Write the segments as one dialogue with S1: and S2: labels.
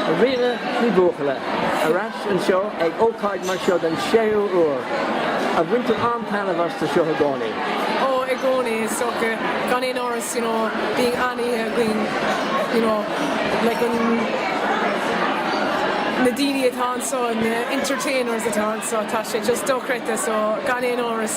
S1: A Ríona Ní Bhuachalla ar ais anseo ag ócáid mar seo den séú uair. An mbaintear an-taitneamh astu seo i gcónaí. Ó, i gcónaí
S2: is dócha. Gan aon amhras, you know, bíonn an-oíche againn, you know, like an, na daoine atá anseo, na entertainers atá anseo, tá sé just dochreidte, so gan aon amhras.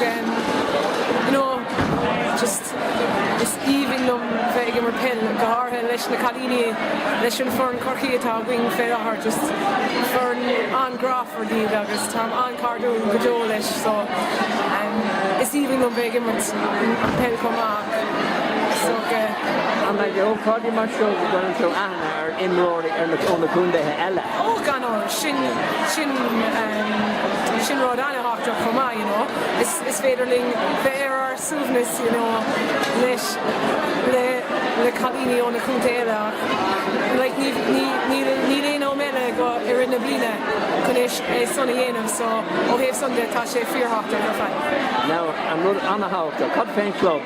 S2: you know just is aoibhinn liom bheith ag imirt peil go háirithe leis na cailíní leis an foireann Chorcaí atá againn fé láthair, just foireann an-grámhar iad agus táim an-cairdiúil go deo leis so is aoibhinn liom bheith ag imirt an peil chomh maith so
S1: An maith le hócáidí mar seo go gcuireann tú aithne ar imreoirí ar na ó na contaetha eile? Ó gan amhras!
S2: Sin sin sin rud an-tábhachtach chomh maith you know. Is is féidir linn bheith ar ár suaimhneas you know leis le le cailíní ó na contae eile ach like ní ní níl níl aon am eile i go i rith na bliana chun é é sin a dhéanamh so ó thaobh san de tá sé fíorthábhachtach ar fad. Now an rud
S1: an-thábhachtach cad faoin chlub?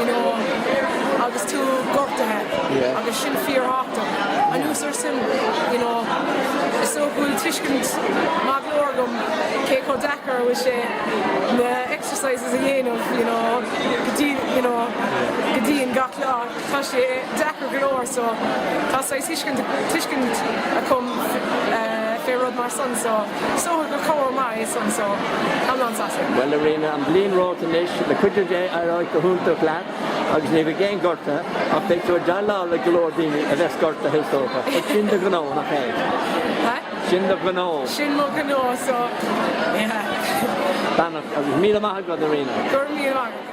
S2: you know, agus tú gortaithe agus sin fíorthábhachtach. Anuas air sin, you know, is dócha go bhfuil tuiscint maith go leor agam cé chomh deacair a bhfuil sé na exercises a dhéanamh, you know, go dtí, you know, go dian gach lá. Tá sé deacair go leor so tá saghas thuiscint tuiscint agam fé rud mar san so is dócha gur cabhair
S1: mhaith é san so táim an-sásta. Bhuel a Ríona, an bhliain romhat anois, le cuidiú Dé éireoidh go hiontach leat agus ní bheidh aon ghortú ach beidh tú ag déileáil le go leor daoine a bheas gortaithe is dócha ach sin do ghnó, nach é?
S2: Sin do ghnó.
S1: Sin mo ghnó
S2: so
S1: yeah. Beannacht agus
S2: go raibh míle maith
S1: agat a Ríona. Go raibh míle maith agat.